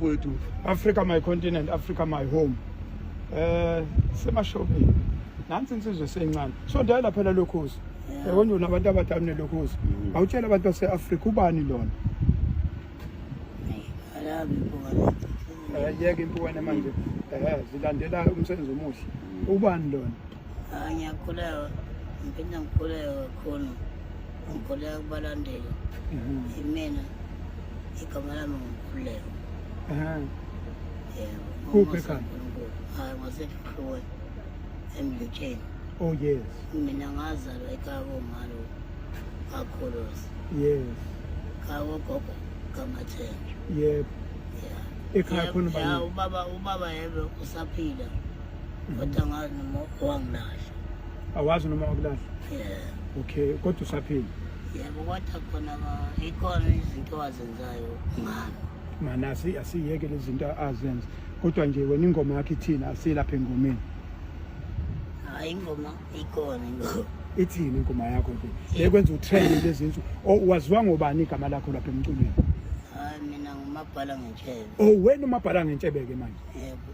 wethu Africa my continent Africa my home eh semashopini nansi insizwe seyincane so dala phela lokhozi yabona yeah. unabantu abadala nelokhozi mm. awutshela abantu base-afrika ubani lona eh, yeke impukane manje eh, zilandela umsebenzi omuhle mm. ubani lona Ah, ngiyakhulewa ngiphinde ngikhuleke kakhulu ngikhuleka kubalandeli Mhm. imina igama lami ngukhuleko Aha. yebo Kuphi ekhaya? uNkulunkulu hayi ngwasehlukwe emlutsheni Oh yes. mina ngazalwa ekhaya komalo kakhulusi Yes. khaya kogogo kamathenjwa Yep. ya Ekhaya khona ubani? ubaba ubaba yebe usaphila Kodwa ngazi noma wangilahla. Awazi noma wakulahla? Yeah. Okay, kodwa usaphila. Yebo kodwa khona ikhona izinto azenzayo ngami. Mana asi asiyeke lezi zinto azenza. Kodwa nje wena ingoma yakhe ithina asilapha engomeni. Hayi ingoma ikhona ingoma. Ithini ingoma yakho nje? Lekwenza utrend lezi zinto. Oh, waziwa ngobani igama lakho lapha emculweni? Hayi mina ngumabhala ngentshebe. Oh wena umabhala ngentshebe ke manje. Yebo.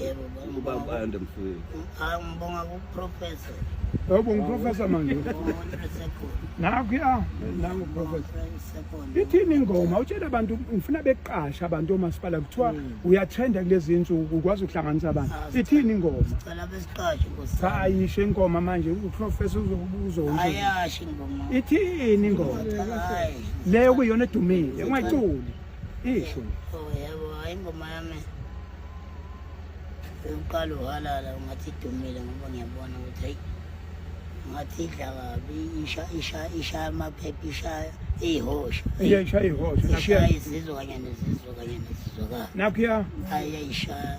Yebo baba. Ubaba ande mfowethu. Ah ngibonga ku professor. Yebo ngiprofessor manje. Nakho ya nangu professor. Ithini ingoma utshela abantu ngifuna beqasha abantu omasipala kuthiwa hmm. uyatrenda kulezi insuku ukwazi ukuhlanganisa abantu. Ah, Ithini ingoma? Sicela besiqashe nkosi. Cha ayisho ingoma manje uprofessor uzokubuza ukuthi. Ayasho ingoma. Ithini ingoma? Leyo kuyona edumile ungayiculi. Isho. Oh yebo, hayi ingoma yami. Uqala uhalala ungathi idumile ngoba ngiyabona ukuthi hayi ngathi idla kabi isha isha isha amaphepha isha ihosha. Iya isha ihosha. Isha izizwa kanye nezizwa kanye nezizwa. Nakho ya. Ayayishaya.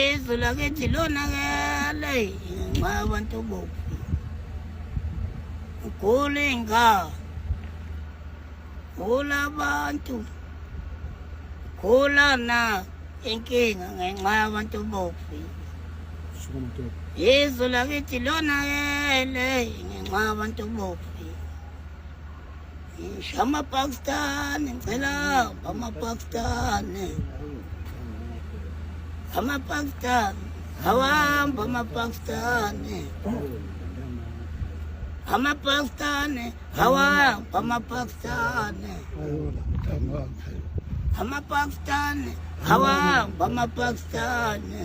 izwe lakithi lonakele ngenxa yabantu bobu ugula iy'ngane gula abantu gula na inkinga ngenxa yabantu bobu izwe lakithi lonakele ngenxa yabantu bobu Amapakistani ngicela amapakistani amapakistani awahamba amapakistani amapakistani awahamba amapakistani amapakistani awahamba amapakistani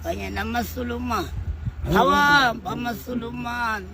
kanye namasulumane awahamba amasulumane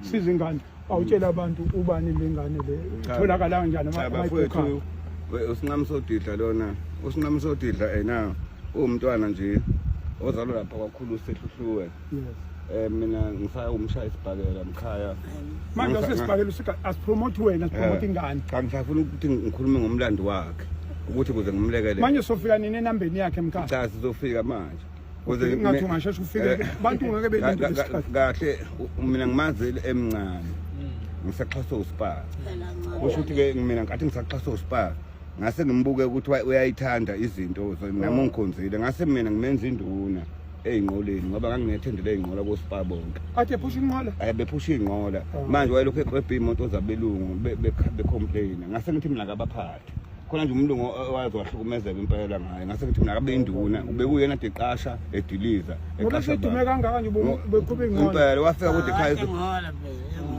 siza ingane awutshela abantu ubani le ngane le itholakala kanjani amayibhukha usinqamsodidla lona usinqamsodidla ena uwumntwana nje ozalwa lapha kwakhulu sehluhluwe yes eh mina ngisaya umshaya isibhakela mkhaya manje usesibhakela usika asipromote wena asipromote eh, ingane cha ngisafuna ukuthi ngikhulume ngomlando wakhe ukuthi kuze ngimlekelele manje sofika nini enambeni yakhe mkhaya cha sizofika manje ungathi ungasheshe ufike eh, abantu ngeke belinde isikhathi kahle mina ngimazi emncane ngisaxhaswa uSpar kusho ukuthi ke mina ngathi ngisaxhaswa uSpar ngase ngimbuke ukuthi uyayithanda izinto nami ungikhonzile ngase mina ngimenza induna eyinqoleni ngoba ngangingethembele eyinqola koSpar bonke athi ephusha inqola eh bephusha inqola oh. manje wayelokhu eqebha imoto zabelungu becomplaina ngase ngithi mina kabaphathi khona nje umlungu owazi wahlukumezeka impela ngaye ngase ngithi mina akabe induna ubekuyena de qasha ediliza eqasha udume kangaka nje beqhube ingqondo impela wafika kude ekhaya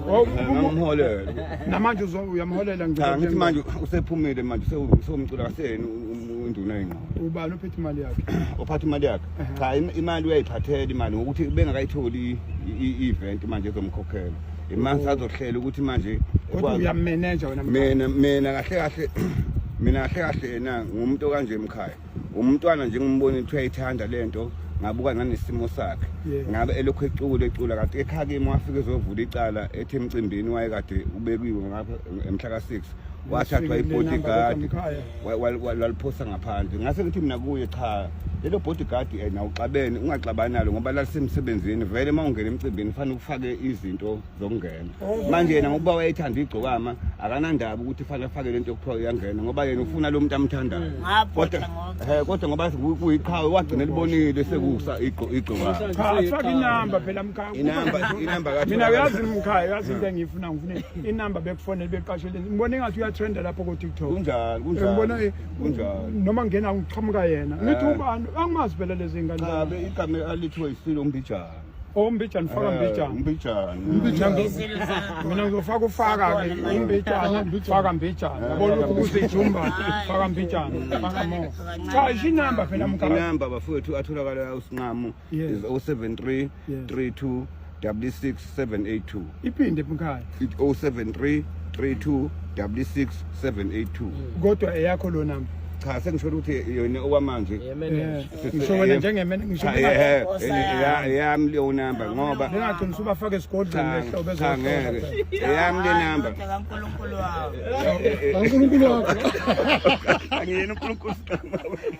oh, ngomholela namanje uyamholela ngicela ngithi manje usephumile manje usewumcula kaseni induna ingqondo ubani ophethe imali yakhe ophatha imali yakhe cha imali uyayiphathela imali ngokuthi bengakayitholi i-event manje ezomkhokhela imanje azohlela ukuthi manje kodwa uyamenenja wena mina mina kahle kahle mina kahle kahle yena ngumuntu okanje emkhaya umntwana nje ngimbona ukuthi uyayithanda lento ngabuka nanesimo sakhe ngabe elokhu ecula ecula kade ekhaya kimi wafike ezovula icala ethi emcimbini wayekade ubekiwe ngapha emhla ka-six wathathwa ibodyguard lwaliphosa ngaphandle ngase ngithi mina kuye cha lelo bodyguard eh, na uxabene ungaxabani nalo ngoba lalisemsebenzini vele uma ungena emcimbini fanele ufake izinto zokungena oh. manje yena ngokuba wayethanda igcokama akanandaba ukuthi fanele afake lento yokuthiwa uyangena ngoba yena ufuna lo muntu amthandayo mm, kodwa eh kodwa ngoba kuyiqhawe wagcina libonile sekusa igcokama cha afake inamba phela mkhaya inamba inamba kathi mina uyazi mkhaya uyazi into engiyifuna ngifuna inamba bekufonele beqashele ngibona engathi uyatrenda lapho kotiktok kunjani kunjanibona eh, kunjani noma ngena ngiqhamuka yena eh. ngithi ubani angimazi phela lezi ngane ngabe igama alithiwe isilo umbijana ombijana oh, faka eh, mbijana umbijana umbijana mina ngizofaka ufaka ke umbijana faka mbijana yabona lokhu kuzijumba faka mbijana faka mo cha isinamba phela mkhaya inamba bafowethu atholakala usinqamo Yes. is 073 Yes. 32 66 782 iphinde mkhaya It 073 32 66 782 kodwa eyakho lo namba cha sengisholo ukuthi yona okwamanje Yeah, man. Eh, Sisi- ngisho wena eh, njengemene ngisho cha, benga- eh, Nkosi eh, yami. ya- yami leyo namba ngoba bengagcina usubafake esigodlweni cha lehla ubezwa cha, ngeke eyami le namba Kodwa kaNkulunkulu wami. Eh, eh, kaNkulunkulu wakho angiyena uNkulunkulu siqhamuka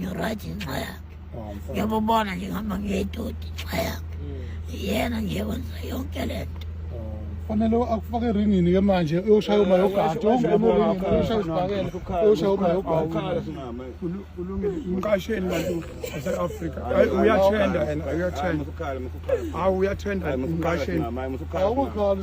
ngirayithi ngenxa yakhe ngiyabubona nje ngihamba ngiyedodi ngenxa yakhe yena nje wenza yonke le nto fanele akufake eringini ke manje uyoshaya uma yogada uyoshaya usibhakele uyoshaya uma yogada umqasheni bantu base-afrika uyathenda yena uyathenda hawu uyathenda umqasheni awukhali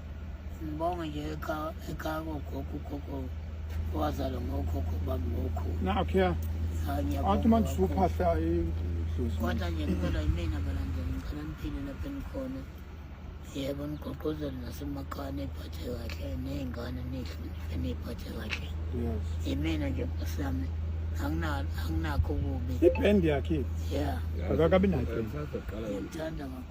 Ngibonge nje ekhaya ekhaya kogogo ugogo owazalwa ngokhokho bami ngokhulu. Nakho ya. Athi manje usuphahla idlozi. Kodwa nje ngicela yimina balandela ngicela niphile lapho enikhona. Yebo nigqugquzele nasemakhaya niphathe kahle ney'ngane nihloniphe niyiphathe kahle. Yes. Yimina nje nkosi yami anginakho kubi. Ibhendi yakhe. Yeah. Akakabi nayo. Ngiyamthanda kakhulu.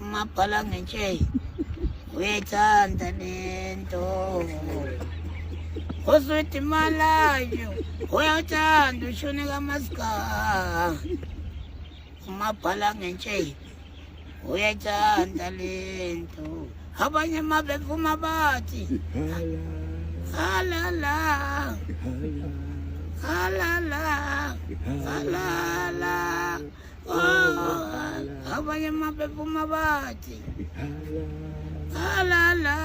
umabhala ngentsheyi uyayithanda lento uswidi malayo uyawuthanda ushuni kamasika umabhala ngentsheyi uyayithanda lento abanye uma bevuma bathi halala halala halala abanye amaphepha uma bathi halala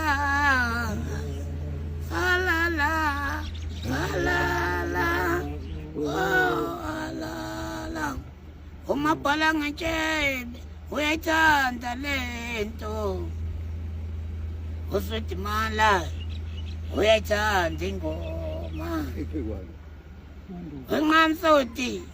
halala halala halala umabhala ngetshebe uyayithanda le nto usedimala uyayithanda ingoma wenqamsoti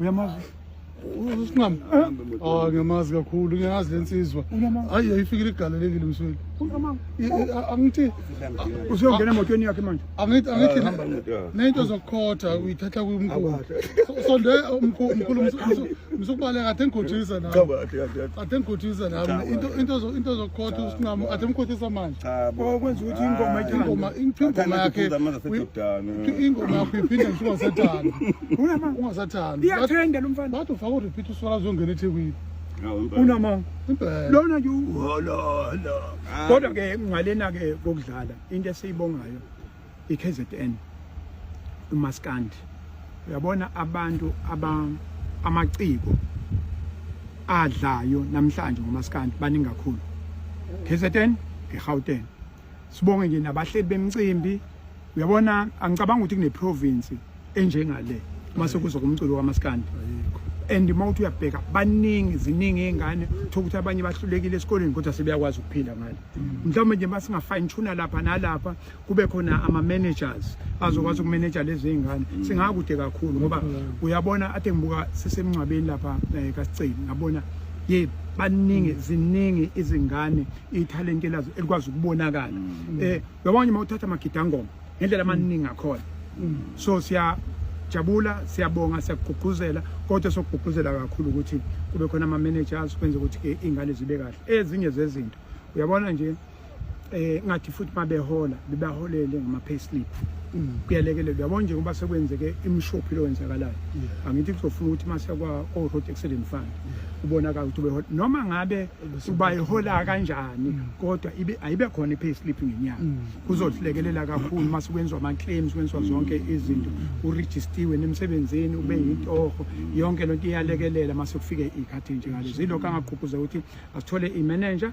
uyamazi usinqama ah ngiyamazi kakhulu ngiyazi lensizwa hayi ayifikile igalelekile msweli angithi usuyongena emotweni yakhe manje angithi angithi ah, nento zokukhotha uyithatha kumkhulu sonde umkhulu msukubaleka athe ngikhothisa nami athe ngikhothisa nami into into into zokukhotha usinqama athe mkhothisa manje cha bo kwenza ukuthi ingoma ingoma ingoma yakhe ingoma yakho iphinde ngisho ungasathanda unama ungasathanda iyathenda lo mfana wathi ufaka urepeat uswala zongena ethekwini unama lona nje uhololo kodwa ke ngalena ke kokudlala into esiyibongayo iKZN umaskandi uyabona abantu aba amaciko adlayo namhlanje ngomaskandi baningi kakhulu KZN eGauteng sibonge nje nabahleli bemcimbi uyabona angicabanga ukuthi kune province enjengale uma sekuzwa kumculo kamaskandi and uma uthi uyabheka baningi ziningi iy'ngane thola ukuthi abanye bahlulekile esikoleni kodwa sebeyakwazi ukuphila ngale mm. mhlawumbe nje uma singa-fine tuna lapha nalapha kube khona ama-managers azokwazi mm. ukumeneja lezi iy'ngane mm. singakude kakhulu ngoba mm. uyabona ade ngibuka sisemngcwabeni lapha um eh, kasiceli ngabona ye baningi ziningi izingane ithalente lazo elikwazi ukubonakala um eh, uyabona uma uthatha amagidangoma ngendlela amaningi akhona so siya siyajabula siyabonga siyakugqugquzela kodwa sokugqugquzela kakhulu ukuthi kube khona ama-managers kwenze ukuthi-ke iy'ngane zibe kahle ezinye zezinto uyabona nje eh ngathi futhi mabehola bebaholele ngama payslip mm. kuyalekelela uyabona nje ngoba sekwenzeke imshophi lo wenzakalayo angithi kuzofuna ukuthi mase kwa o road accident fund ubonakala ukuthi behola noma ngabe ubayihola kanjani mm. kodwa ibe ayibe khona i payslip ngenyanga mm. kuzodlekelela kakhulu mase kwenzwa ama claims kwenzwa zonke izinto u registiwe nemsebenzini ube yintoho yonke lonto iyalekelela mase kufike ikhathi nje ngalezo ilokho angaqhuquza ukuthi asithole i manager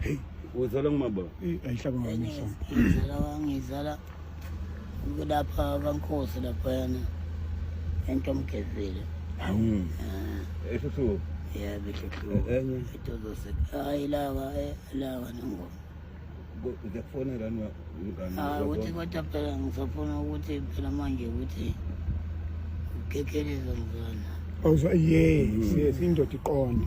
Hey, uzala ngumaba. Eh, ayihlaba ngami so. Ngizala wangizala kulapha kaNkosi lapha yana. Ento mgezile. Hawu. Ah. Esho Yeah, bishop. Enye. Itozo se. Hayi lawa, eh, lawa nangoma. ngiyakufonela ah, ukuthi kodwa phela ngisafuna ukuthi phela manje ukuthi ukekeleza mzana awuzwa yes yes indoda iqonde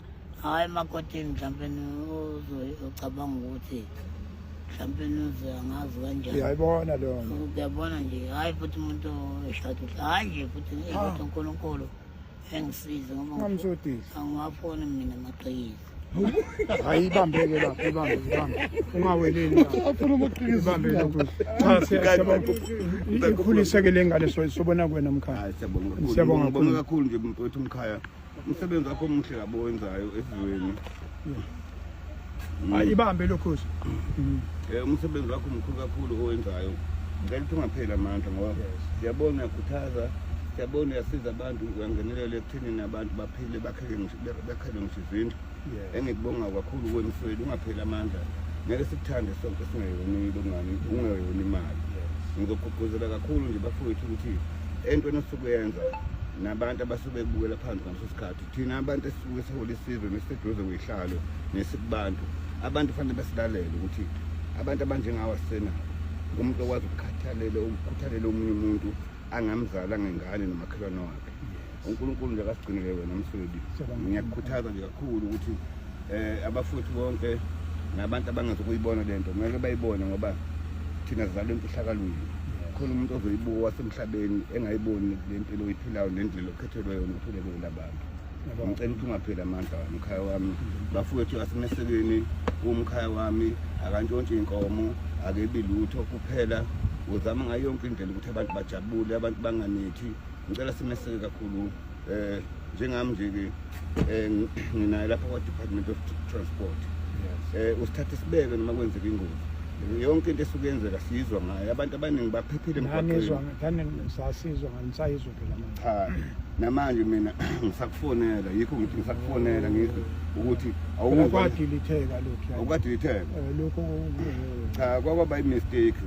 hhayi emakotini mhlawumpe ucabanga ukuthi mhlawumpe uze angazi kanjani uyayibona leyo nto uyabona nje hhayi futhi umuntu eshada uhle hhayi nje futhi eh, ah. kodwa unkulunkulu engisize ngoba Ungamsodisi. angiwafuni mina amaqiniso hayi ibambeke lapho ibambe ibambe ungaweleli lapho. afuna amaqiniso ibambe lokhu cha siyabona ikhuliseke le ngane so- sobona kwena mkhaya Hayi siyabonga kakhulu. Siyabonga Ngibonga kakhulu. kakhulu nje mfowethu umkhaya. umsebenzi wakho omuhle kabi owenzayo esizweni hayi ibambe lokhozi um umsebenzi wakho mkhulu kakhulu owenzayo ngicela ukuthi ungapheli amandla ngoba siyabona uyakhuthaza siyabona uyasiza abantu uyangenelela ekuthenini abantu baphile bakhele ngisho izindlu engikubonga kakhulu kuwe mfwethu ungapheli amandla ngeke sikuthande sonke singeyoni longani ungeyoni imali ngizogqugquzela kakhulu nje bafowethu ukuthi entweni osuke yenza nabantu abasuke bebukela phansi ngaleso sikhathi thina abantu esisuke sihola isizwe nesiseduze kweyihlalo nesikubantu abantu kufanele basilalele ukuthi abantu abanjengawo asisenabo umuntu okwazi ukukhathalela ukukhuthalela omunye umuntu angamzala ngengane nomakhelwane wakhe yeah. uNkulunkulu nje akasigcinele wena mswebi ngiyakukhuthaza nje kakhulu ukuthi eh abafuthi bonke nabantu abangazokuyibona lento ngeke bayibone ngoba thina sizalwe emfihlakalweni khona umuntu ozoyibuka wasemhlabeni engayiboni le mpilo oyiphilayo nendlela okhethelwe yona uphile kuyona abantu ngicela ukuthi ungapheli amandla wami umkhaya wami bafowethu asemesekeni umkhaya wami akantshontshi inkomo akebi lutho kuphela uzama ngayo yonke indlela ukuthi abantu bajabule abantu banganithi ngicela simeseke kakhulu eh njengami nje ke eh, nginaye lapha kwa Department of Transport eh usithathe sibeke noma kwenzeka ingozi yonke into esuke yenzeka sizwa ngayo abantu abaningi baphephile emgwaqenisasizwa nganisayizwa phela cha namanje mina ngisakufonela yikho ngithi ngisakufonela ngizwe ukuthi awukwadilitheka lokhu awukwadilitheka eh, lokho cha kwakwaba i-mistake